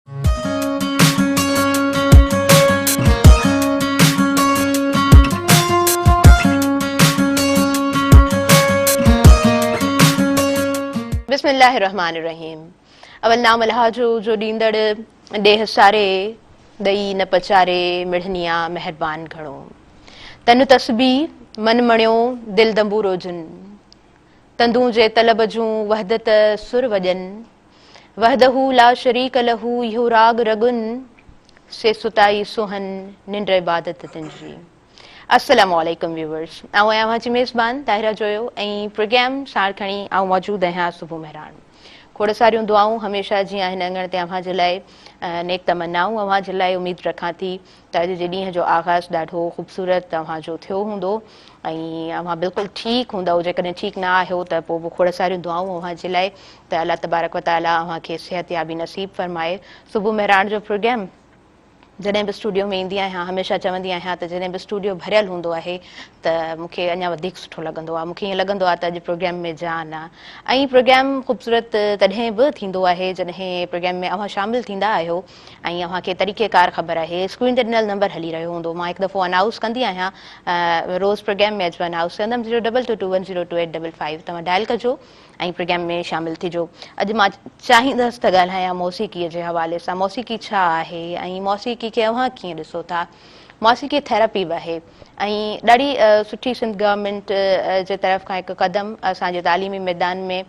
بسم الله الرحمٰن الرحيم اول نام الله جو جو ڏيندڙ ڏيھ ساري ڏئي نه پچاري مڙھنيا مھربان گھڻو تن تسبي من مڻيو دل دنبورو جن تندون جي طلب جون وحدت سر وڄن وحده لا شريڪ له اهو راڳ رڳن سي ستائي سونهن ننڊ عبادت تنهنجي. السلام عليڪم ويوورس آئون آهيان اوهان جي ميزبان طاهره جويو ۽ پروگرام ساڻ کڻي آئون موجود آهيان صبح مهراڻ کوڙ ساريون دعائون هميشه جيئن هن اڱڻ تي اوهان جي لاء نيڪ تمنائون اوهان جي لاء اميد رکان ٿي ته اڄ جي ڏينهن جو آغاز ڏاڍو خوبصورت اوهان جو ٿيو هوندو ۽ اوهان بلڪل ٺيڪ هوندؤ جيڪڏهن ٺيڪ نه آهيو ته پوء به کوڙ ساريون دعائون اوهان جي لاء ته الله تبارڪ و تعالي اوهان کي صحت يابي نصيب فرمائي صبح مهراڻ جو پروگرام جڏهن به اسٽوڊيو ۾ ايندي آهيان هميشه چوندي آهيان ته جڏهن به اسٽوڊيو ڀريل هوندو آهي ته مون کي اڃا وڌيڪ سٺو لڳندو آهي مون کي ائين لڳندو آهي ته اڄ پروگرام ۾ جان آهي ۽ پروگرام خوبصورت تڏهن به ٿيندو آهي جڏهن پروگرام ۾ اوهان شامل ٿيندا آهيو ۽ اوهان کي طريقي ڪار خبر آهي اسڪرين تي ڏنل نمبر هلي رهيو هوندو مان هڪ دفعو انائوس ڪندي آهيان روز پروگرام ۾ اچ انائوس ڪندم zero double two two one zero two eight double five توهان ڊائل ڪجو ۽ پروگرام ۾ شامل ٿجو اڄ مان چاهيندس ته ڳالهايان موسيقي جي حوالي سان موسيقي ڇا آهي ۽ موسيقي کي اوهان ڪيئن ڏسو ٿا موسيقي ٿيراپي به آهي ۽ ڏاڍي سٺي سنڌ گورنمنٽ جي طرف کان هڪ قدم اسان جي تعليمي ميدان ۾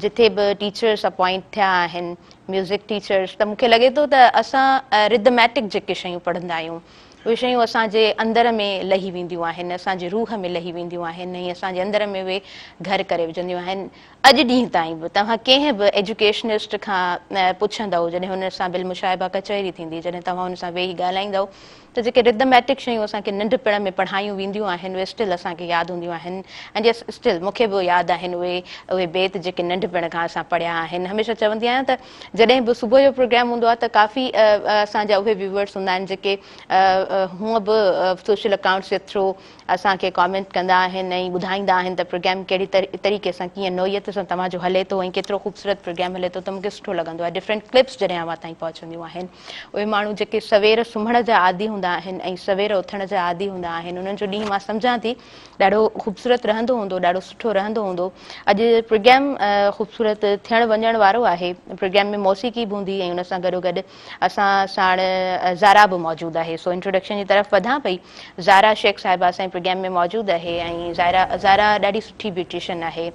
جتي به ٽيچرس اپوائنٽ ٿيا آهن ميوزڪ ٽيچرس ته مونکي لڳي ٿو ته اسان رڌميٽڪ جيڪي شيون پڙهندا آهيون اهي شيون اسان جي اندر ۾ لهي وينديون آهن اسان جي روح ۾ لهي وينديون آهن ۽ اسان جي اندر ۾ اهي گهر ڪري وجهنديون آهن اڄ ڏينهن تائين به توهان ڪنهن به ايجوڪيشنسٽ کان پڇندؤ جڏهن هن سان بالمشاهبه ڪچهري ٿيندي جڏهن توهان هن سان ويهي ڳالهائيندؤ ته جيڪي Rhythmatic شيون اسان کي ننڍپڻ ۾ پڙهايون وينديون آهن اهي Still اسان کي ياد هونديون آهن ۽ جي Still مون کي به ياد آهن اهي اهي بيت جيڪي ننڍپڻ کان اسان پڙهيا آهن هميشه چوندي آهيان ته جڏهن به صبح جو پروگرام هوندو آهي ته ڪافي اسان جا اهي Viewers هوندا آهن جيڪي هونء به Social Accounts جي Through اسان کي Comment ڪندا آهن ۽ ٻڌائيندا آهن ته پروگرام ڪهڙي طريقي سان ڪيئن نوعيت سان توهان جو هلي ٿو ۽ ڪيترو خوبصورت پروگرام هلي ٿو ته مون کي سٺو لڳندو آهي Different Clips جڏهن اوهان تائين پهچنديون آهن اهي ماڻهو جيڪي سوير سمهڻ جا عادي هوندا آهن ۽ سوير اٿڻ جا عادي هوندا آهن انهن جو ڏينهن مان سمجهان ٿي ڏاڍو خوبصورت رهندو هوندو ڏاڍو سٺو رهندو هوندو اڄ پروگرام خوبصورت ٿيڻ وڃڻ وارو آهي پروگرام ۾ موسيقي به هوندي ۽ ان سان گڏو گڏ اسان ساڻ زارا به موجود آهي سو انٽروڊڪشن جي طرف وڌان پئي زارا شيخ صاحبه اسان جي پروگرام ۾ موجود آهي ۽ زارا زارا ڏاڍي سٺي بيوٽيشن آهي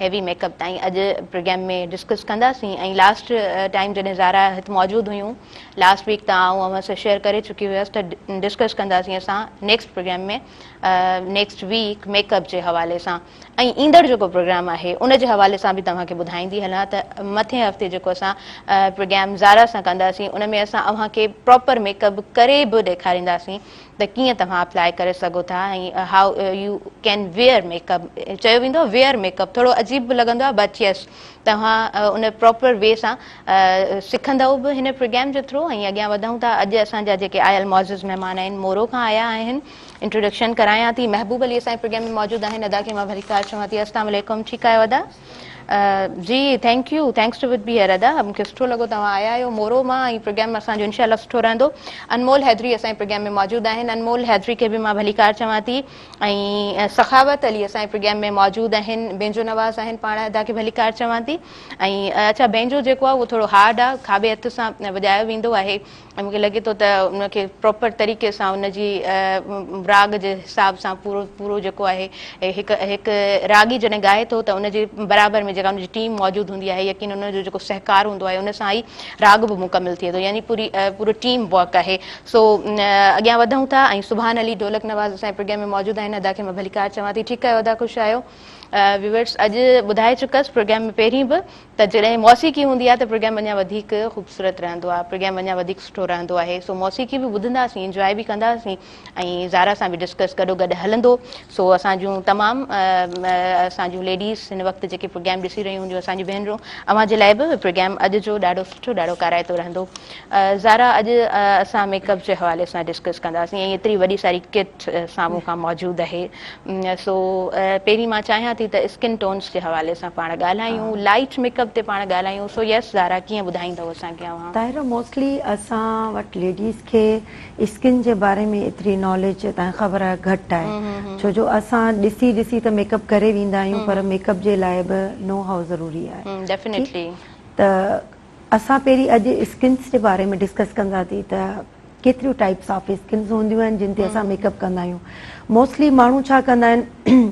هيوي ميڪ اپ تائين اڄ پروگرام ۾ ڊسڪس ڪنداسين ۽ لاسٽ ٽائيم جڏهن زارا هت موجود هيون لاسٽ ويڪ ته آئون اوهان سان شيئر ڪري چڪي هيس ته ڊسڪس ڪنداسين اسان next programme ۾ next week makeup جي حوالي سان ۽ ايندڙ جيڪو پروگرام آهي ان جي حوالي سان به توهان کي ٻڌائيندي هلان ته مٿين هفتي جيڪو اسان پروگرام زارا سان ڪنداسين ان ۾ اسان اوهان کي پراپر ميڪ اپ ڪري به ڏيکارينداسين ته ڪيئن توهان اپلائي ڪري سگهو ٿا ۽ How you can wear makeup چيو ويندو آهي Wear makeup ٿورو عجيب به لڳندو آهي But yes توهان ان Proper way سان سکندئو به هن پروگرام جي Through ۽ اڳيان وڌئون ٿا اڄ اسان جا جيڪي آيل معزز مهمان آهن مورو کان آيا آهن Introduction ڪرايان ٿي محبوب علي اسان جي پروگرام ۾ موجود آهن ادا کي مان ڀليڪار چوان ٿي اسلام عليڪم ٺيڪ آهيو ادا. جي ٿينڪ يو ٿينڪس ٽو وٽ بي هيئر ادا مونکي سٺو لڳو توهان آيا آهيو مورو مان ۽ پروگرام اسان جو انشاء الله سٺو رهندو انمول حيدري اسان جي پروگرام ۾ موجود آهن انمول حيدري کي به مان ڀليڪار چوان ٿي ۽ سخاوت علي اسان جي پروگرام ۾ موجود آهن بينجو نواز آهن پاڻ ادا کي ڀليڪار چوان ٿي ۽ اچا بينجو جيڪو آهي اهو ٿورو هارڊ آهي کاٻي هٿ سان وڄايو ويندو آهي ۽ مون کي لڳي ٿو ته ان کي پراپر طريقي سان ان جي راڳ جي حساب سان پورو پورو جيڪو آهي هڪ هڪ راڳي جڏهن ڳائي ٿو ته ان جي برابر ۾ جيڪا ان جي ٽيم موجود هوندي آهي يقين ان جو جيڪو سهڪار هوندو آهي ان سان ئي راڳ به مڪمل ٿئي ٿو يعني پوري پورو ٽيم ورڪ آهي سو اڳيان وڌون ٿا ۽ سبحان علي ڍولڪ نواز اسان جي پروگرام ۾ موجود آهن ادا کي مان ڀليڪار چوان ٿي ٺيڪ ڪيو ادا خوش آيو ويورس اڄ ٻڌائي چڪس پروگرام ۾ پهرين به ته جڏهن موسيقي هوندي آهي ته پروگرام اڃا وڌيڪ خوبصورت رهندو آهي پروگرام اڃا وڌيڪ سٺو رهندو آهي سو موسيقي به ٻڌنداسين انجواء به ڪنداسين ۽ زارا سان به ڊسڪس گڏو گڏ هلندو سو اسان جون تمام اسان جون ليڊيز هن وقت جيڪي پروگرام ڏسي رهيون هونديون اسان جون ڀينرون اوهان جي لاء به پروگرام اڄ جو ڏاڍو سٺو ڏاڍو ڪارائتو رهندو زارا اڄ اسان ميڪ اپ جي حوالي سان ڊسڪس ڪنداسين ۽ ايتري وڏي ساري ڪٽ سامهون کان موجود آهي سو پهرين مان چاهيان ٿي ته اسڪن ٽونس جي حوالي سان پاڻ ڳالهايون لائٽ ميڪ اپ تي پاڻ ڳالهايون سو يس زارا ڪيئن ٻڌائيندؤ اسان کي اوهان. طاهره موسٽلي اسان وٽ ليڊيز کي اسڪن جي باري ۾ ايتري ناليج تنهن خبر گهٽ آهي ڇو جو اسان ڏسي ڏسي ته ميڪ اپ ڪري ويندا آهيون پر ميڪ اپ جي لاء به نو هاء ضروري آهي ٺيڪ ته اسان پهرين اڄ اسڪنس جي باري ۾ ڊسڪس ڪنداسين ته ڪيتريون ٽائيپس آف اسڪنس هونديون آهن جن تي اسان ميڪ اپ ڪندا آهيون موسٽلي ماڻهو ڇا ڪندا آهن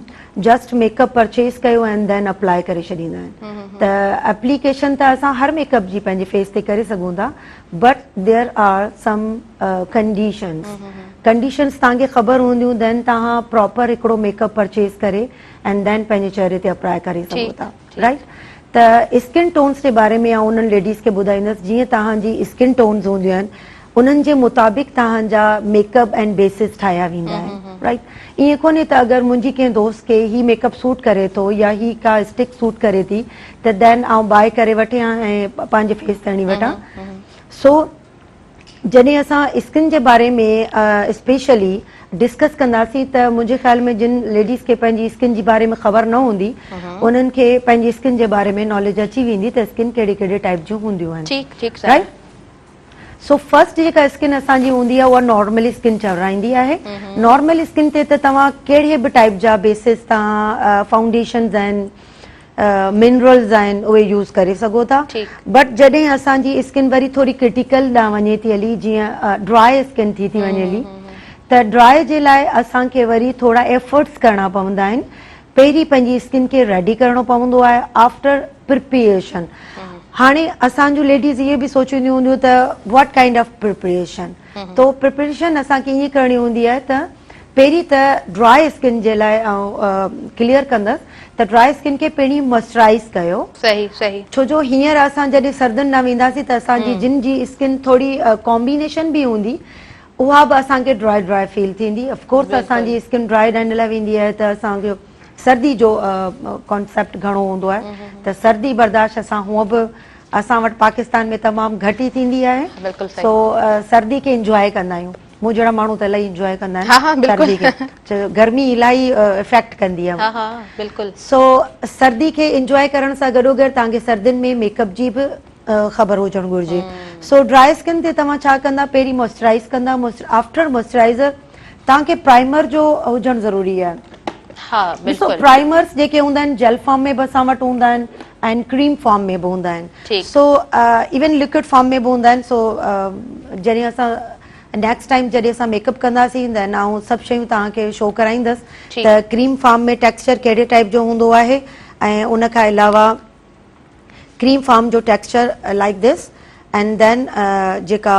جسٽ ميڪ اپ پرچيز ڪيو ۽ دين اپلائي ڪري ڇڏيندا آهن ته اپليڪيشن ته اسان هر ميڪ اپ جي پنهنجي فيس تي ڪري سگهون ٿا but there are some conditions conditions تان کي خبر هونديون دين تان پراپر هڪڙو ميڪ اپ پرچيز ڪري ۽ دين پنهنجي چهري تي اپلائي ڪري سگهو ٿا رائيٽ ته اسڪن ٽونز جي باري ۾ آئون انهن ليڊيز کي ٻڌائيندس جيئن توهان جي اسڪن ٽونز هونديون آهن انهن جي مطابق توهان جا ميڪ اپ اينڊ بيسز ٺاهيا ويندا آهن رائيٽ ائين ڪونهي ته اگر منهنجي ڪنهن دوست کي هي ميڪ اپ سوٽ ڪري ٿو يا هي ڪا اسٽڪ سوٽ ڪري ٿي ته دين آئون بائي ڪري وٺيان ۽ پنهنجي فيس تي هڻي وٺان سو جڏهن اسان اسڪن جي باري ۾ اسپيشلي ڊسڪس ڪنداسين ته منهنجي خيال ۾ جن ليڊيز کي پنهنجي اسڪن جي باري ۾ خبر نه هوندي انهن کي پنهنجي اسڪن جي باري ۾ ناليج اچي ويندي ته اسڪن ڪهڙي ڪهڙي ٽائپ جون هونديون آهن رائٽ سو فرسٽ جيڪا اسڪن اسان جي هوندي آهي اها نارمل اسڪن چورائيندي آهي نارمل اسڪن تي ته توهان ڪهڙي به ٽائپ جا بيسز تان فائونڊيشنز آهن منرلز آهن اهي يوز ڪري سگهو ٿا بٽ جڏهن اسان جي اسڪن وري ٿوري ڪرٽيڪل ڏانهن وڃي ٿي هلي جيئن ڊراء اسڪن ٿي ٿي وڃي هلي ته ڊراء جي لاء اسان کي وري ٿورا ايفرٽس ڪرڻا پوندا آهن پهرين پنهنجي اسڪن کي ريڊي ڪرڻو پوندو آهي آفٽر پرپريشن هاڻي اسان جون ليڊيز اهي به سوچينديون هونديون ته واٽ ڪائنڊ آف پرپريشن تو پريپريشن اسان کي ائين ڪرڻي هوندي آهي ته پهرين ته ڊرائي اسڪن جي لاء آئون ڪليئر ڪندس ته ڊرائي اسڪن کي پهرين موئسچرائز ڪيو صحيح صحيح ڇو جو هينئر اسان جڏهن سردين ڏانهن وينداسين ته اسان جي جن جي اسڪن ٿوري ڪامبينيشن به هوندي اها به اسان کي ڊرائي ڊرائي فيل ٿيندي اف ڪورس اسان جي اسڪن ڊرائي ڏنڊ لاء ويندي آهي ته اسان کي سردي جو ڪانسيپٽ گهڻو هوندو آهي ته سردي برداشت اسان هونئن به اسان وٽ پاڪستان ۾ تمام گهٽ ئي ٿيندي آهي سو سردي کي انجواء ڪندا آهيون مون جهڙا ماڻهو ته الائي انجواء ڪندا آهن سردي کي گرمي الائي افيڪٽ ڪندي آهي سو سردي کي انجواء ڪرڻ سان گڏو گڏ تان کي سردين ۾ ميڪ اپ جي به خبر هجڻ گهرجي سو ڊرائي اسڪن تي توهان ڇا ڪندا پهرين موئسچرائز ڪندا آفٽر موئسچرائزر تان کي پرائمر جو هجڻ ضروري آهي ڏسو پرائمرس جيڪي هوندا آهن جيل فارم ۾ به اسان وٽ هوندا آهن آهن ڪريم فارم ۾ به هوندا آهن سو ايون لڪوڊ فارم ۾ به هوندا آهن سو جڏهن اسان نيڪسٽ ٽائيم جڏهن اسان ميڪ اپ ڪنداسين ته آئون سڀ شيون توهان کي شو ڪرائيندس ته ڪريم فارم ۾ ٽيڪسچر ڪهڙي ٽائيپ جو هوندو آهي ۽ ان کان علاوه ڪريم فارم جو texture like this and then جيڪا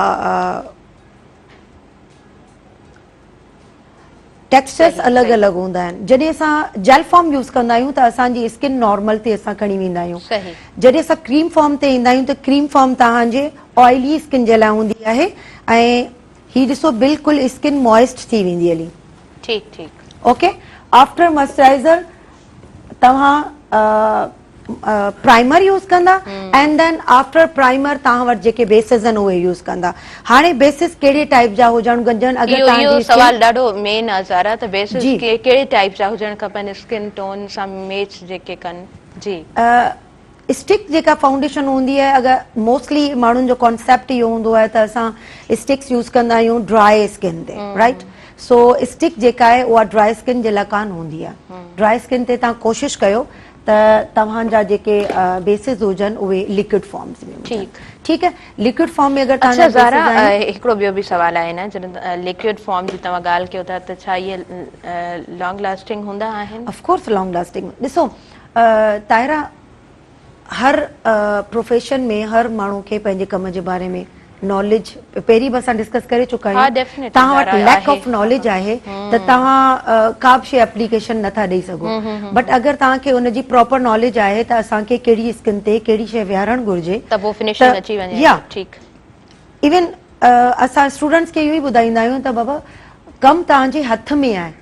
ٽيڪسچرس الڳ الڳ هوندا آهن جڏهن اسان جيل فارم يوز ڪندا آهيون ته اسان جي اسڪن نارمل تي اسان کڻي ويندا آهيون جڏهن اسان ڪريم فارم تي ايندا آهيون ته ڪريم فارم توهان جي آئلي اسڪن جي لاء هوندي آهي ۽ هي ڏسو بلڪل اسڪن موئسٽ ٿي ويندي هلي ٺيڪ ٺيڪ اوڪي آفٽر موئسچرائزر توهان پرائمر يوز ڪندا اينڊ دين آفٽر پرائمر توهان وٽ جيڪي بيسز آهن اهي يوز ڪندا هاڻي بيسز ڪهڙي ٽائيپ جا هجڻ گهرجن اگر توهان جي اهو سوال ڏاڍو مين آهي زارا ته بيسز ڪهڙي ٽائيپ جا هجڻ کپن اسڪن ٽون سان ميچ جيڪي ڪن جي اسٽڪ جيڪا فائونڊيشن هوندي آهي اگر موسٽلي ماڻهن جو ڪانسيپٽ اهو هوندو آهي ته اسان اسٽڪس يوز ڪندا آهيون ڊراء اسڪن تي رائٽ سو اسٽڪ جيڪا آهي اها ڊراء اسڪن جي لاء ڪانه هوندي آهي ڊراء اسڪن تي تان ڪوشش ڪيو ته توهان جا جيڪي بيسز هجن اهي ليڪوڊ فارمز ۾ هجن ٺيڪ آهي ليڪوڊ فارم ۾ اگر توهان جا بيسز آهن اڇا زارا هڪڙو ٻيو به سوال آهي نه جڏهن ليڪوڊ فارم جي توهان ڳالهه ڪيو ٿا ته ڇا اهي لانگ لاسٽنگ هوندا آهن اف ڪورس لانگ لاسٽنگ ڏسو طاهره هر پروفيشن ۾ هر ماڻهو کي پنهنجي ڪم جي باري ۾ ناليج پهرين به اسان ڊسڪس ڪري چڪا آهيون توهان وٽ ليڪ آف ناليج آهي ته توهان ڪا به شي اپليڪيشن نٿا ڏئي سگهو بٽ اگر توهان کي ان جي پراپر ناليج آهي ته اسان کي ڪهڙي اسڪن تي ڪهڙي شي ويهارڻ گهرجي ايون اسان اسٽوڊنٽس کي اهو ئي ٻڌائيندا آهيون ته بابا ڪم توهان جي هٿ ۾ آهي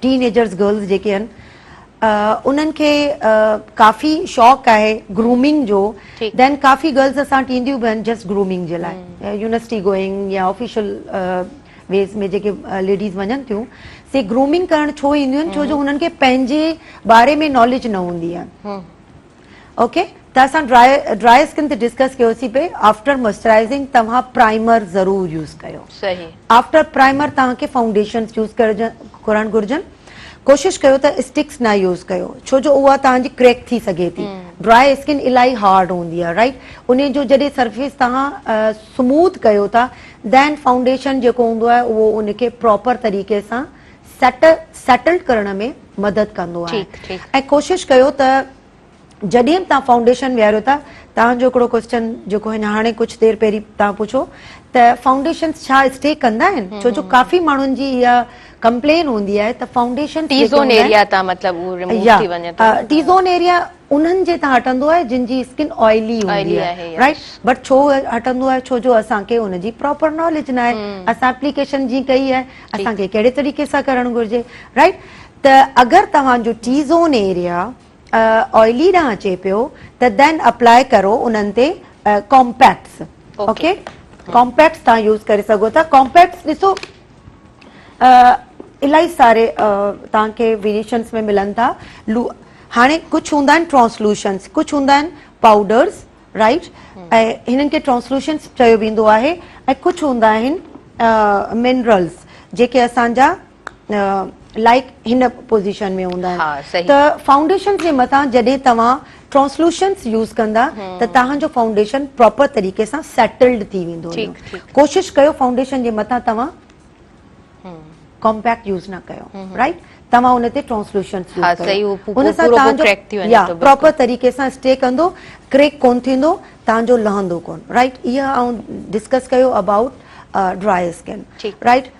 ٽين ايجرز گرلز جيڪي آهن انهن کي ڪافي شوق آهي گرومنگ جو دين ڪافي گرلز اسان وٽ اينديون به آهن جسٽ گرومنگ جي لاء يونيورسٽي گوئنگ يا آفيشل ويز ۾ جيڪي ليڊيز وڃن ٿيون سي گرومنگ ڪرڻ ڇو اينديون آهن ڇو جو هنن کي پنهنجي باري ۾ ناليج نه هوندي آهي اوڪي ته اسان ڊرائي ڊرائي اسڪن تي ڊسڪس ڪيوسي پي آفٽر موئسچرائزنگ توهان پرائمر ضرور يوز ڪيو صحيح آفٽر پرائمر توهان کي فائونڊيشنز يوز ڪرڻ گهرجن ڪوشش ڪيو ته اسٽڪس نه يوز ڪيو ڇو جو اها توهان جي ڪريڪ ٿي سگهي ٿي ڊرائي اسڪن الائي هارڊ هوندي آهي رائٽ ان جو جڏهن سرفيس توهان سموٿ ڪيو ٿا دين فائونڊيشن جيڪو هوندو آهي اهو ان کي پراپر طريقي سان سيٽ Settled ڪرڻ ۾ مدد ڪندو آهي ٺيڪ ٺيڪ. ۽ ڪوشش ڪيو ته جڏهن به توهان فائونڊيشن ويهاريو ٿا توهان جو هڪڙو ڪوسچن جيڪو هن هاڻي ڪجهه دير پهرين توهان پڇو ته فائونڊيشنس ڇا اسٽي ڪندا آهن ڇو جو ڪافي ماڻهن جي اها ڪمپلين هوندي آهي ته فائونڊيشنس ٽي جيڪي زون هوندا آهن ايريا تان مطلب هو رموو يا ٿي وڃي ٿو ٽي زون ايريا انهن جي تان هٽندو آهي جن جي اسڪن آئلي هوندي آهي رائٽ بٽ ڇو هٽندو آهي ڇو جو اسان کي ان جي پراپر ناليج ناهي اسان اپليڪيشن جي ڪئي آهي اسان کي ڪهڙي طريقي سان ڪرڻ گهرجي رائٽ ته اگر توهان جو ٽي زون ايريا آئلي ڏانهن اچي پيو ته دين اپلاء ڪرو انهن تي ڪامپيڪس اوڪي ڪامپيڪس تان يوز ڪري سگهو ٿا ڪامپيڪس ڏسو الائي ساري تان کي ويريشنس ۾ ملن ٿا هاڻي ڪجهه هوندا آهن ٽرانسلوشنس ڪجهه هوندا آهن پاؤڊرس رائٽ ۽ هنن کي ٽرانسلوشنس چيو ويندو آهي ۽ ڪجهه هوندا آهن منرلس جيڪي اسانجا لائڪ هن پوزيشن ۾ هوندا آهن ته فائونڊيشن جي مٿان جڏهن توهان ٽرانسلوشنس يوز ڪندا ته توهان جو فائونڊيشن پراپر طريقي سان سيٽلڊ ٿي ويندو ڪوشش ڪيو فائونڊيشن جي مٿان توهان ڪمپيڪٽ يوز نه ڪيو رائٽ توهان ان تي ٽرانسلوشنس يوز ڪيو ان سان توهان جو ڪريڪ ٿي ويندو يا پراپر طريقي سان اسٽي ڪندو ڪريڪ ڪون ٿيندو توهان جو لهندو ڪون رائٽ اها آئون ڊسڪس ڪيو ابائوٽ ڊرائي اسڪن رائٽ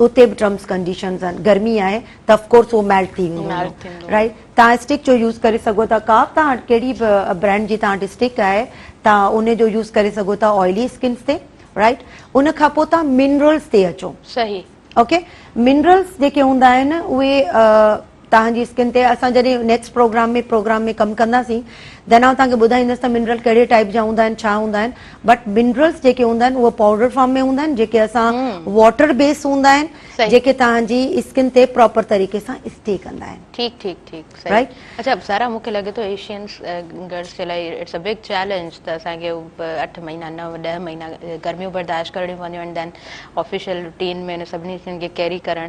اتي به ٽرمس ڪنڊيشنز آهن گرمي آهي ته اف ڪورس هو ميلٽ ٿي ويندو رائٽ تان اسٽڪ جو يوز ڪري سگهو ٿا ڪا به تان ڪهڙي به برانڊ جي تان اسٽڪ آهي تا ان جو يوز ڪري سگهو ٿا آئلي اسڪنس تي رائٽ ان کان پوء تان منرلز تي اچو صحيح اوڪي منرلز جيڪي هوندا آهن اهي توهان جي اسڪن تي اسان جڏهن نيڪسٽ پروگرام ۾ پروگرام ۾ ڪم ڪنداسين دين آئون توهان کي ٻڌائيندس ته منرل ڪهڙي ٽائيپ جا هوندا آهن ڇا هوندا آهن بٽ منرلس جيڪي هوندا آهن اهي پاؤڊر فارم ۾ هوندا آهن جيڪي اسان واٽر بيس هوندا آهن جيڪي توهان جي اسڪن تي پراپر طريقي سان اسٽي ڪندا آهن ٺيڪ ٺيڪ ٺيڪ صحيح اچا سارا مون کي لڳي ٿو ايشين گرلس جي لاء اٽس ا بگ چئلينج ته اسان کي اٺ مهينا نو ڏهه مهينا گرميون برداشت ڪرڻيون پونديون آهن دين آفيشل روٽين ۾ ان سڀني شين کي ڪيري ڪرڻ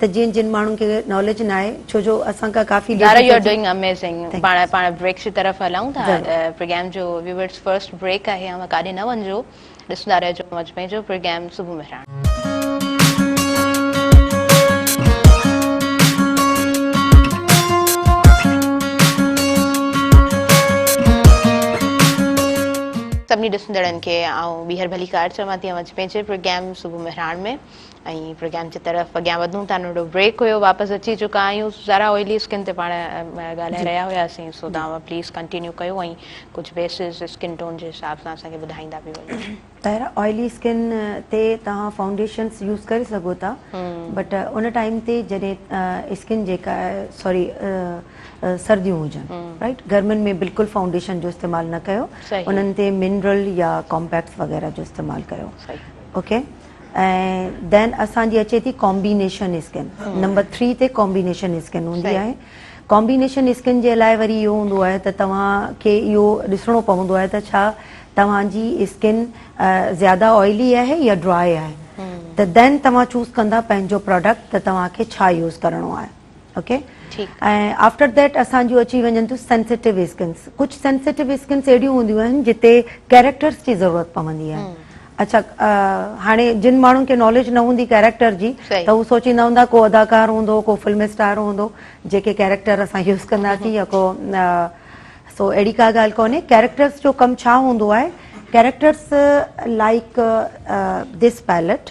ته جن جن ماڻهن کي ناليج ناهي ڇو جو اسان کان ڪافي ladies Zara you are doing amazing پاڻ پاڻ بريڪس جي طرف هلائون ٿا پروگرام جو ويورز فرسٽ بريڪ آهي اوهان ڪاڏي نه وڃجو ڏسندا رهجو مجھ ۾ جو پروگرام صبح مهراڻ سڀني ڏسندڙن کي آئون ٻيهر ڀليڪار چوان ٿي مجھ ۾ جي پروگرام صبح مهراڻ ۾ ۽ پروگرام جي طرف اڳيان وڌون ٿا ننڍو بريڪ هيو واپس اچي چڪا آهيون زارا اوئلي اسڪن تي پاڻ ڳالهائي رهيا هياسين سو توهان پليز ڪنٽينيو ڪيو ۽ ڪجهه بيسز اسڪن ٽون جي حساب سان اسان کي ٻڌائيندا به وڃو طاهرا اوئلي اسڪن تي توهان فائونڊيشنز يوز ڪري سگهو ٿا بٽ ان ٽائيم تي جڏهن اسڪن جيڪا سوري سرديون هجن رائيٽ گرمين ۾ بلڪل فائونڊيشن جو استعمال نه ڪيو انهن تي منرل يا ڪامپيڪس وغيره جو استعمال ڪيو اوڪي ۽ دين اسان جي اچي ٿي ڪامبينيشن اسڪن نمبر ٿري تي ڪامبينيشن اسڪن هوندي آهي ڪامبينيشن اسڪن جي لاء وري اهو هوندو آهي ته توهان کي اهو ڏسڻو پوندو آهي ته ڇا توهان جي اسڪن زياده آئلي آهي يا ڊرائي آهي ته دين توهان چوز ڪندا پنهنجو پروڊڪٽ ته توهان کي ڇا يوز ڪرڻو آهي اوڪي ۽ آفٽر ديٽ اسان جون اچي وڃن ٿيون سينسيٽو اسڪنس ڪجهه سينسيٽو اسڪنس اهڙيون هونديون آهن جتي ڪيريڪٽرس جي ضرورت پوندي آهي اچا هاڻي جن ماڻهن کي ناليج نه هوندي ڪيريڪٽر جي ته هو سوچيندا هوندا ڪو اداڪار هوندو ڪو فلم اسٽار هوندو جيڪي ڪيريڪٽر اسان يوز ڪنداسين يا ڪو سو اهڙي ڪا ڳالهه ڪونهي ڪيريڪٽرس جو ڪم ڇا هوندو آهي ڪيريڪٽرس لائڪ دس پائلٽ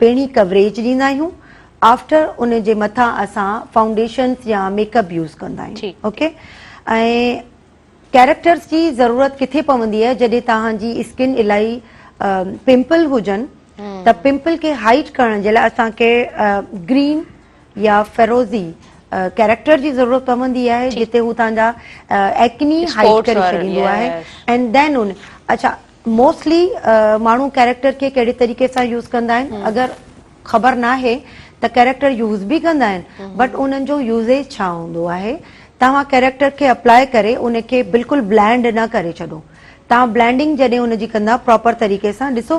پڻي ڪوريج ڏيندا آهيون آفٽر ان جي مٿان اسان فائونڊيشنس يا ميڪ اپ يوز ڪندا آهيون اوڪي ۽ ڪيريڪٽرس جي ضرورت ڪٿي پوندي آهي جڏهن توهان جي اسڪن الائي پمپل هجن ته پمپل کي هائيڊ ڪرڻ جي لاء اسان کي گرين يا فيروزي ڪيريڪٽر جي ضرورت پوندي آهي جتي هو توهان جا ايڪني هائيڊ ڪري ڇڏيندو آهي اينڊ دين ان اچھا موسٽلي ماڻهو ڪيريڪٽر کي ڪهڙي طريقي سان يوز ڪندا آهن اگر خبر ناهي ته ڪيريڪٽر يوز به ڪندا آهن بٽ انهن جو يوزيج ڇا هوندو آهي توهان ڪيريڪٽر کي اپلاء ڪري ان کي بلڪل بلينڊ نه ڪري ڇڏو توهان بلينڊنگ جڏهن ان جي ڪندا پراپر طريقي سان ڏسو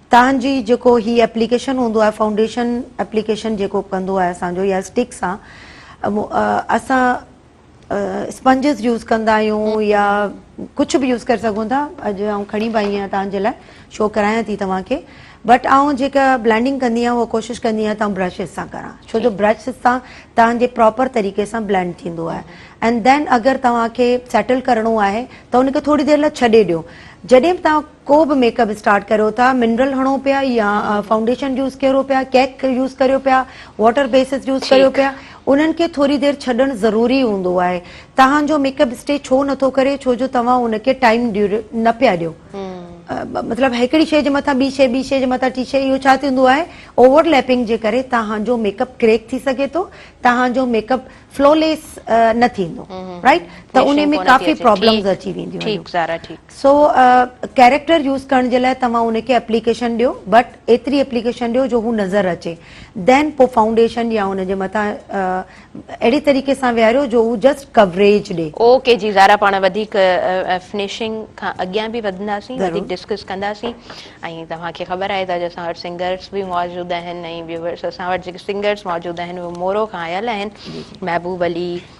تان جي جيڪو هي ايپليڪيشن هوندو آهي فائونڊيشن ايپليڪيشن جيڪو ڪندو آهي اسان جو يا اسٽڪ سان اسان اسپنجز يوز ڪندا آهيون يا ڪجهه به يوز ڪري سگهون ٿا اڄ آئون کڻي به آئي آهيان تان جي لاء شو ڪرايان ٿي توهان کي بٽ آئون جيڪا بلينڊنگ ڪندي آهيان اها ڪوشش ڪندي آهيان تان برشز سان ڪران ڇو جو برش سان تان جي پراپر طريقي سان بلينڊ ٿيندو آهي اينڊ دين اگر توهان کي سيٽل ڪرڻو آهي ته ان کي ٿوري دير لاء ڇڏي ڏيو جڏهن به تان ڪو به ميڪ اپ اسٽارٽ ڪريو ٿا منرل هڻو پيا يا فائونڊيشن يوز ڪريو پيا ڪيڪ يوز ڪريو پيا واٽر بيسز يوز ڪريو پيا انهن کي ٿوري دير ڇڏڻ ضروري هوندو آهي تهان جو ميڪ اپ اسٽي ڇو نٿو ڪري ڇو جو توهان ان کي ٽائيم نه پيا ڏيو مطلب هڪڙي شي جي مٿان ٻي شي ٻي شي جي مٿان ٽي شي اهو ڇا ٿيندو آهي اوور ليپنگ جي ڪري توهان جو ميڪ اپ ڪريڪ ٿي سگهي ٿو توهان جو ميڪ اپ فلو ليس نه ٿيندو رائٽ ته ان ۾ ڪافي پرابلمز اچي وينديون سو ڪيريڪٽر يوز ڪرڻ جي لاء توهان ان کي اپليڪيشن ڏيو بٽ ايتري اپليڪيشن ڏيو جو هو نظر اچي دين پو فائونڊيشن يا ان جي مٿان اهڙي طريقي سان ويهاريو جو هو جسٽ ڪوريج ڏي. او ڪي جي زارا پاڻ وڌيڪ فنشنگ کان اڳيان به وڌنداسين وڌيڪ ڊسڪس ڪنداسين ۽ توهان کي خبر آهي ته اڄ اسان وٽ سنگرس به موجود آهن ۽ ويوورس اسان وٽ جيڪي سنگرس موجود آهن اهي مورو کان آيل آهن محبوب علي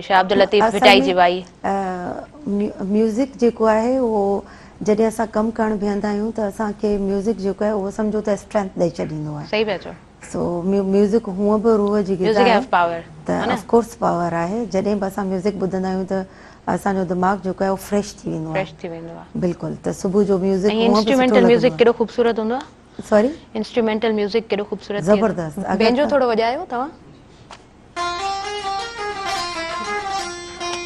شاهه عبداللطيف ڀٽائي جي وائي. ميوزڪ جيڪو آهي اهو جڏهن اسان ڪم ڪرڻ بيهندا آهيون ته اسان کي ميوزڪ جيڪو آهي اهو سمجهو ته اسٽرينٿ ڏئي ڇڏيندو آهي. صحيح پيا چئو. سو ميوزڪ هونء به روح جي غذا آهي ته اف ڪورس پاور آهي جڏهن به اسان ميوزڪ ٻڌندا آهيون ته اسان جو دماغ جيڪو آهي اهو فريش ٿي ويندو آهي. فريش ٿي ويندو آهي. بلڪل ته صبح جو ميوزڪ هونء به سٺو لڳندو آهي. ۽ انسٽرومينٽل ميوزڪ ڪيڏو خوبصورت هوندو آهي. سوري. انسٽرومينٽل ميوزڪ ڪيڏو خوبصورت ٿئي ٿو. زبردست. بينجو ٿورو وڄايو توهان.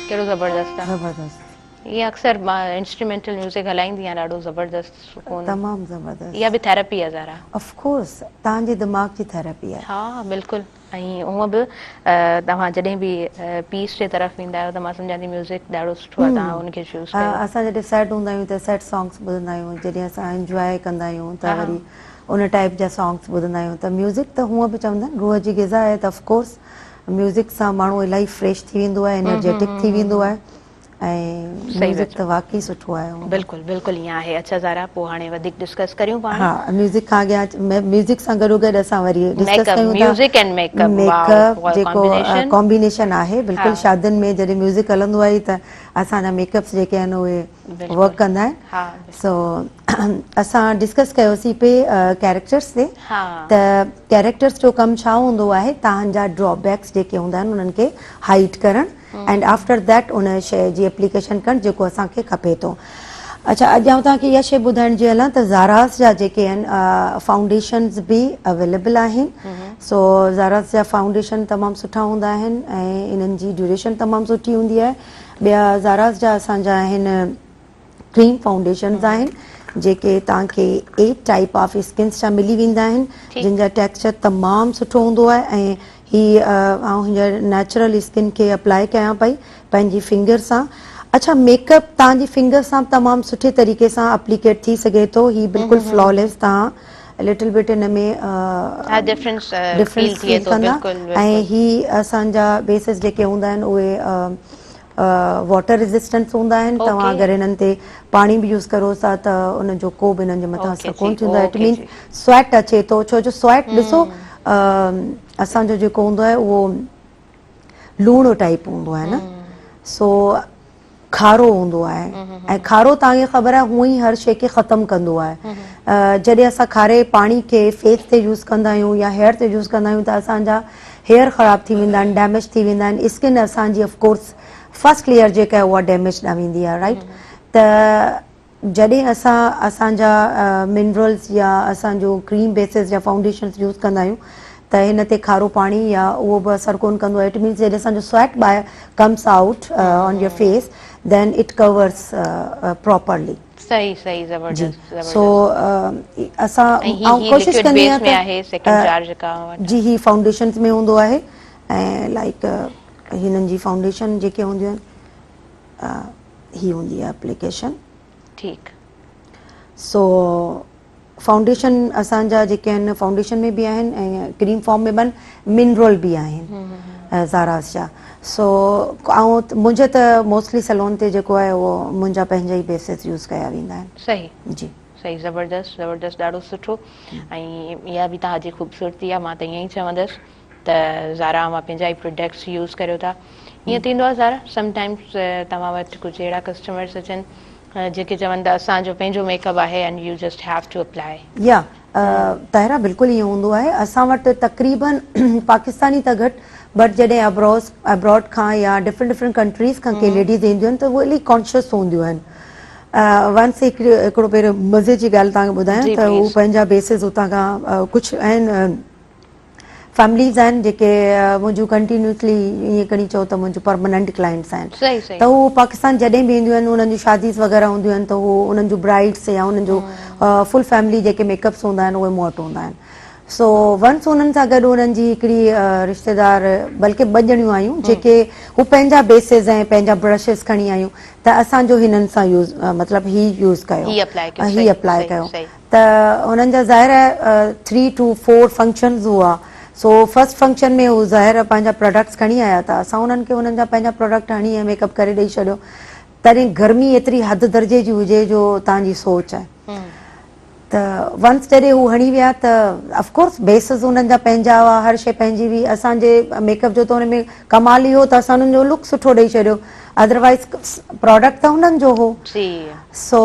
ڪهڙو زبردست آ. زبردست. ايئن اڪثر مان انسٽرومينٽل ميوزڪ هلائيندي آهيان ڏاڍو زبردست سڪون. تمام زبردست. اها به ٿيراپي آهي زارا. اف ڪورس تهان جي دماغ جي ٿيراپي آهي. ها بلڪل ۽ هونء به توهان جڏهن به پيس جي طرف ويندا آهيو ته مان سمجهان ٿي ميوزڪ ڏاڍو سٺو آهي تهان ان کي چوز ڪيو. اسان جڏهن سيڊ هوندا آهيون ته سيڊ سانگس ٻڌندا آهيون جڏهن اسان انجواء ڪندا آهيون ته وري ان ٽائيپ جا سانگس ٻڌندا آهيون ته ميوزڪ ته هونئن به چوندا آهن روح جي غذا آهي ته اف ڪورس ميوزڪ سان ماڻهو الاهي فريش ٿي ويندو آهي انرجيٽڪ ٿي ويندو آهي ۽ ميوزڪ ته واقعي سٺو آهي هونئن به بلڪل بلڪل ائين آهي اڇا زارا پوء هاڻي وڌيڪ ڊسڪس ڪريون پاڻ ها ميوزڪ کان اڳيان ميوزڪ سان گڏو گڏ اسان وري ڊسڪس ڪيون ٿا ميڪ اپ ميڪ اپ واء جيڪو ڪامبينيشن آهي بلڪل شادين ۾ جڏهن ميوزڪ هلندو آهي ته اسان جا ميڪ اپس جيڪي آهن اهي ورڪ ڪندا آهن سو اسان ڊسڪس ڪيوسي پي ڪيريڪٽرس تي ته ڪيريڪٽرس جو ڪم ڇا هوندو آهي تان جا ڊرا بيڪس جيڪي هوندا آهن انهن کي هائيڊ ڪرڻ ۽ آفٽر ڌيٽ ان شي جي اپليڪيشن ڪرڻ جيڪو اسان کي کپي ٿو اڇا اڄ آئون توهان کي اها شي ٻڌائڻ جي هلان ته زاراس جا جيڪي آهن فائونڊيشنز به اويليبل آهن سو زاراس جا فائونڊيشن تمام سٺا هوندا آهن ۽ انهن جي ڊيوريشن تمام سٺي هوندي آهي ٻيا زاراز جا اسان جا آهن ڪريم فائونڊيشنز آهن جيڪي توهان کي ايٽ ٽائپ آف اسڪنس جا ملي ويندا آهن جن جا ٽيڪسچر تمام سٺو هوندو آهي ۽ هي آئون هينئر نيچرل اسڪن کي اپلائي ڪيان پئي پنهنجي فنگر سان اڇا ميڪ اپ توهان جي فنگر سان تمام سٺي طريقي سان اپليڪيٽ ٿي سگهي ٿو هي بلڪل فلاليس توهان A little bit ان ۾ ڊفرنس فيل ڪندا ۽ هي اسان جا بيسز جيڪي هوندا آهن اهي واٽر ريزسٽنس هوندا آهن توهان اگر هنن تي پاڻي به يوز ڪرو ٿا ته ان جو ڪو به هنن جي مٿان اثر ڪون ٿيندو آهي اٽ مينس سويٽ اچي ٿو ڇو جو سويٽ ڏسو اسان جو جيڪو هوندو آهي اهو لوڻ ٽائپ هوندو آهي نه سو کارو هوندو آهي ۽ کارو تان کي خبر آهي هونئن هر شي کي ختم ڪندو آهي جڏهن اسان کاري پاڻي کي فيس تي يوز ڪندا آهيون يا هيئر تي يوز ڪندا آهيون ته اسانجا هيئر خراب ٿي ويندا آهن ڊيميج ٿي ويندا آهن اسڪن اسانجي اف ڪورس فرسٽ ليئر جيڪا آهي اها ڊيميج ڏانهن ويندي آهي رائٽ ته جڏهن اسان اسان جا منرلز يا اسان جو ڪريم بيسز يا فائونڊيشنز يوز ڪندا آهيون ته هن تي کارو پاڻي يا اهو به اثر ڪون ڪندو آهي اٽ مينز جڏهن اسان جو سويٽ باهر comes out on your face then of course properly صحيح صحيح زبردست زبردست سو اسان ۽ ڪوشش ڪندي آهيان ته آهي سيڪنڊ چار جيڪا جي هي فائونڊيشنز ۾ هوندو آهي ۽ لائڪ هنن جي فائونڊيشن جيڪي هونديون آهن هي هوندي آهي اپليڪيشن ٺيڪ سو فائونڊيشن اسان جا جيڪي آهن فائونڊيشن ۾ به آهن ۽ ڪريم فارم ۾ بن منرل به آهن زاراس جا سو آئون منهنجي ته موسٽلي سلون تي جيڪو آهي اهو منهنجا پنهنجا ئي بيسز يوز ڪيا ويندا آهن صحيح جي صحيح زبردست زبردست ڏاڍو سٺو ۽ اها به تهاجي خوبصورتي آهي مان ته ائين ئي چوندس ته زارا اوهان پنهنجا ئي پروڊڪٽس يوز ڪريو ٿا ائين ٿيندو آهي زارا سم ٽائمز توهان وٽ ڪجهه اهڙا ڪسٽمرز اچن جيڪي چون ته اسان جو پنهنجو ميڪ اپ آهي and you just have to apply. يا طاهرا بلڪل ائين هوندو آهي اسان وٽ تقريبا پاڪستاني ته گهٽ بٽ جڏهن ابروز ابراڊ کان يا ڊفرنٽ ڊفرنٽ ڪنٽريز کان ڪي ليڊيز اينديون آهن ته هو الائي ڪانشيس هونديون آهن ونس هڪڙي هڪڙو پهريون مزي جي ڳالهه توهان کي ٻڌايان ته هو پنهنجا بيسز هتان کان ڪجهه آهن فيمليز آهن جيڪي منهنجون ڪنٽينيوسلي ائين کڻي چئو ته منهنجون پرماننٽ ڪلائنٽس آهن ته هو پاڪستان جڏهن به اينديون آهن انهن جون شاديز وغيره هونديون آهن ته هو انهن جون برائيڊس يا انهن جو فل فيملي جيڪي ميڪ اپس هوندا آهن اهي مون وٽ هوندا آهن سو ونس انهن سان گڏ انهن جي هڪڙي رشتيدار بلڪه ٻه ڄڻيون آيون جيڪي هو پنهنجا بيسز ۽ پنهنجا برشز کڻي آيون ته اسان جو هنن سان يوز مطلب هي يوز ڪيو هي اپلائي ڪيو ته انهن جا ظاهر آهي ٿري ٽو فور فنڪشنز هئا سو فرسٽ فنڪشن ۾ هو ظاهر پنهنجا پروڊڪٽس کڻي آيا ته اسان انهن کي انهن جا پنهنجا پروڊڪٽ هڻي ۽ ميڪ اپ ڪري ڏئي ڇڏيو تڏهن گرمي ايتري حد درجي جي هجي جو تان جي سوچ آهي ته ونس جڏهن هو هڻي ويا ته افڪورس بيسز انهن جا پنهنجا هئا هر شي پنهنجي هئي اسان جي ميڪ اپ جو ته ان ۾ ڪمال اهو ته اسان انهن جو لڪ سٺو ڏئي ڇڏيو ادر وائيز پراڊڪٽ ته انهن جو هو سو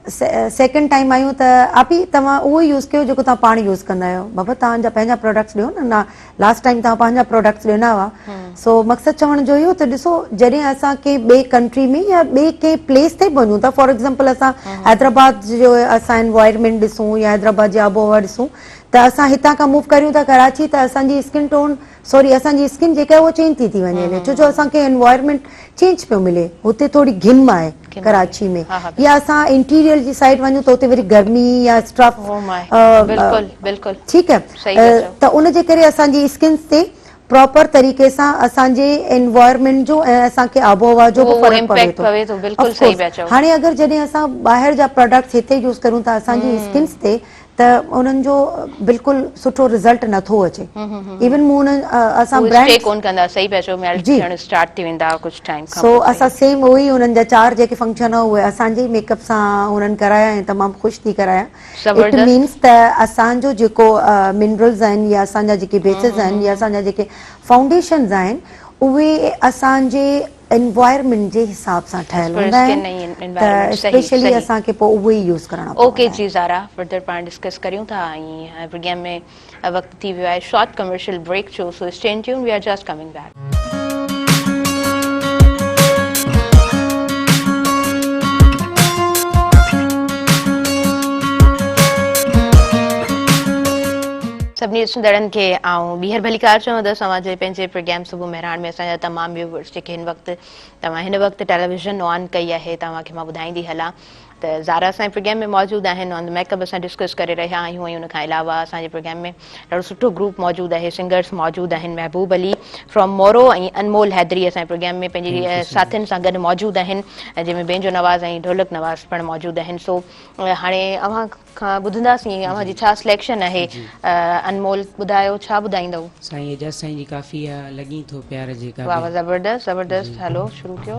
سيڪنڊ ٽائيم آيون ته آپي توهان اهو ئي يوز ڪيو جيڪو توهان پاڻ يوز ڪندا آهيو بابا توهان جا پنهنجا پراڊڪٽس ڏيو نه لاسٽ ٽائيم توهان پنهنجا پراڊڪٽس ڏنا هئا سو مقصد چوڻ جو اهو ته ڏسو جڏهن اسان ڪنهن ٻئي ڪنٽري ۾ يا ٻئي ڪنهن پليس تي به وڃون ٿا فار ايگزامپل اسان حيدرآباد جو اسان انوائرمينٽ ڏسون يا حيدرآباد جي آبهوا ڏسون ته اسان هتان کان موو ڪريون ٿا ڪراچي ته اسان جي اسڪن ٽون سوري اسان جي اسڪن جيڪا اهو چينج ٿي ٿي وڃي هلي ڇو جو اسان کي انوائرمنٽ چينج پيو ملي هتي ٿوري گھم آهي ڪراچي ۾ يا اسان انٽيريئر جي سائيڊ وڃون ته هتي وري گرمي يا اسٽرف ٺيڪ آهي ته ان جي ڪري اسان جي اسڪنس تي پراپر طريقي سان اسان جي انوائرمنٽ جو ۽ اسان کي آب و هوا جو به فرق پوي ٿو هاڻي اگر جڏهن اسان ٻاهر جا پراڊڪٽس هتي يوز ڪريون ٿا اسان جي اسڪنس تي ته انهن جو بلڪل سٺو رزلٽ نٿو اچي ايون مون اسان برانڊ ڪون ڪندا سهي پيا چئو ميلٽ ٿيڻ اسٽارٽ ٿي ويندا ڪجهه ٽائيم کان سو اسان سيم اهو ئي انهن جا چار جيڪي فنڪشن هو اهي اسان جي ميڪ اپ سان انهن ڪرايا ۽ تمام خوش ٿي ڪرايا اٽ مينس ته اسان جو جيڪو منرلز آهن يا اسان جا جيڪي بيسز آهن يا اسان جا جيڪي فائونڊيشنز آهن اهي اسان جي انوائرمينٽ جي حساب سان ٺهيل هوندا آهن ته اسپيشلي اسان کي پوء اهي ئي يوز ڪرڻا پوندا آهن. اوڪي جي زارا فردر پاڻ ڊسڪس ڪريون ٿا ۽ پروگرام ۾ وقت ٿي ويو آهي شارٽ ڪمرشل بريڪ جو so stay tuned we are just coming back. سڀني ڏسندڙن کي آئون ٻيهر ڀليڪار چوندس اوهان جي پنهنجي پروگرام صبح مهراڻ ۾ اسان جا تمام ويوورز جيڪي هن وقت توهان هن وقت ٽيليويزن آن ڪئي آهي توهان کي مان ٻڌائيندي هلان ته زارا اسان جي پروگرام ۾ موجود آهن آن ميڪ اپ اسان ڊسڪس ڪري رهيا آهيون ۽ ان کان علاوه اسان جي پروگرام ۾ ڏاڍو سٺو گروپ موجود آهي سنگرز موجود آهن محبوب علي فرام مورو ۽ انمول حيدري اسان جي پروگرام ۾ پنهنجي ساٿين سان گڏ موجود آهن جنهن ۾ بينجو نواز ۽ ڍولڪ نواز پڻ موجود آهن سو هاڻي اوهان کان ٻڌنداسين اوهان جي ڇا سليڪشن آهي انمول ٻڌايو ڇا ٻڌائيندؤ. سائين اعجاز سائين جي ڪافي آ لڳين ٿو پيار جي ڪا به. واھ واھ زبردست زبردست ھلو شروع ڪيو.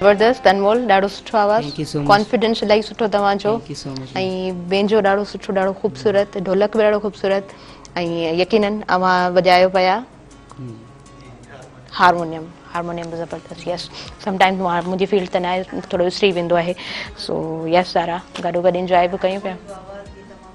زبردست انمول ڏاڍو سٺو آواز ڪانفيڊنس الاهي سٺو توهان جو ۽ بينجو ڏاڍو سٺو ڏاڍو خوبصورت ڍولڪ به ڏاڍو خوبصورت ۽ يقينن اوهان وڄايو پيا هارمونيم هارمونيم به زبردست يس سم ٽائمز منهنجي فيلڊ ته ناهي ٿورو وسري ويندو آهي سو يس سارا گڏو گڏ انجوائي به ڪيون پيا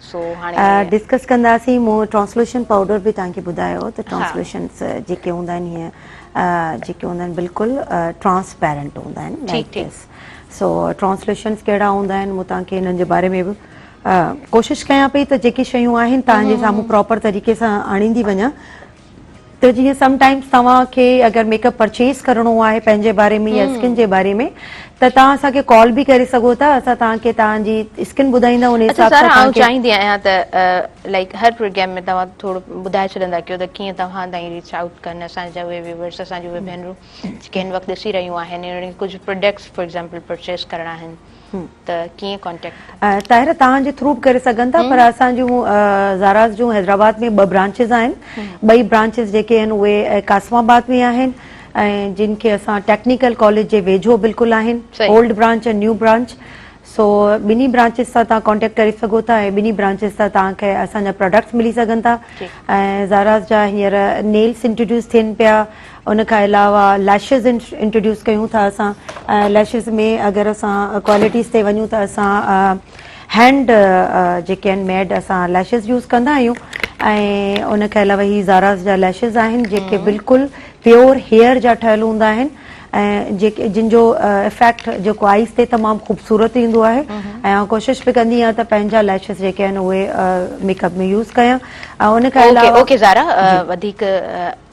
سو هاڻي ڊسڪس ڪنداسين مون ٽرانسلوشن پائوڊر به توهان کي ٻڌايو ته ٽرانسلوشنس جيڪي هوندا آهن هيئن جيڪي هوندا آهن بلڪل ٽرانسپيرنٽ هوندا آهن لائڪ دس سو ٽرانسلوشنس ڪهڙا هوندا آهن مون توهان کي هنن جي باري ۾ به ڪوشش ڪيان پئي ته جيڪي شيون آهن توهان جي سامهون پراپر طريقي سان آڻيندي وڃان ته جيئن سم ٽائمز توهان کي اگر ميڪ اپ پرچيز ڪرڻو آهي پنهنجي باري ۾ يا اسڪن جي باري ۾ ته توهان اسان کي ڪال به ڪري سگهو ٿا اسان توهان کي توهان جي اسڪن ٻڌائيندا ان حساب سان توهان کي چاهيندي آهيان ته لائڪ هر پروگرام ۾ توهان ٿورو ٻڌائي ڇڏندا ڪيو ته ڪيئن توهان تائين ريچ آئوٽ ڪن اسان جا اهي ويورس اسان جون اهي ڀينرون جيڪي هن وقت ڏسي رهيون آهن انهن کي ڪجهه پروڊڪٽس فار ايگزامپل پرچيز ڪرڻا آهن ته ڪيئن ڪانٽيڪٽ ٿا ڪري. طاهره توهان جي ٿرو به ڪري سگهن ٿا پر اسان جون زاراز جون حيدرآباد ۾ ٻه برانچز آهن ٻئي برانچز جيڪي آهن اهي قاسم آباد ۾ آهن ۽ جن کي اسان ٽيڪنيڪل ڪاليج جي ويجهو بلڪل آهن اولڊ برانچ ۽ نيو برانچ سو ٻنهي برانچز سان توهان ڪانٽيڪٽ ڪري سگهو ٿا ۽ ٻنهي برانچز تان توهان کي اسان جا پراڊڪٽس ملي سگهن ٿا ۽ زاراز جا هينئر نيلس انٽروڊيوس ٿين پيا ان کان علاوه ليشز انٽروڊيوس ڪيون ٿا اسان ليشز ۾ اگر اسان ڪوالٽيز تي وڃون ته اسان هينڊ جيڪي آهن ميڊ اسان ليشز يوز ڪندا آهيون ۽ ان کان علاوه هي زاراز جا ليشز آهن جيڪي بلڪل پيور هيئر جا ٺهيل هوندا آهن ۽ جيڪي جن جو افيڪٽ جيڪو آئيس تي تمام خوبصورت ايندو آهي ۽ آن ڪوشش به ڪندي آهيان ته پنهنجا ليشز جيڪي آهن اهي ميڪ اپ ۾ يوز ڪيان ۽ ان کان علاوه اوڪي زارا وڌيڪ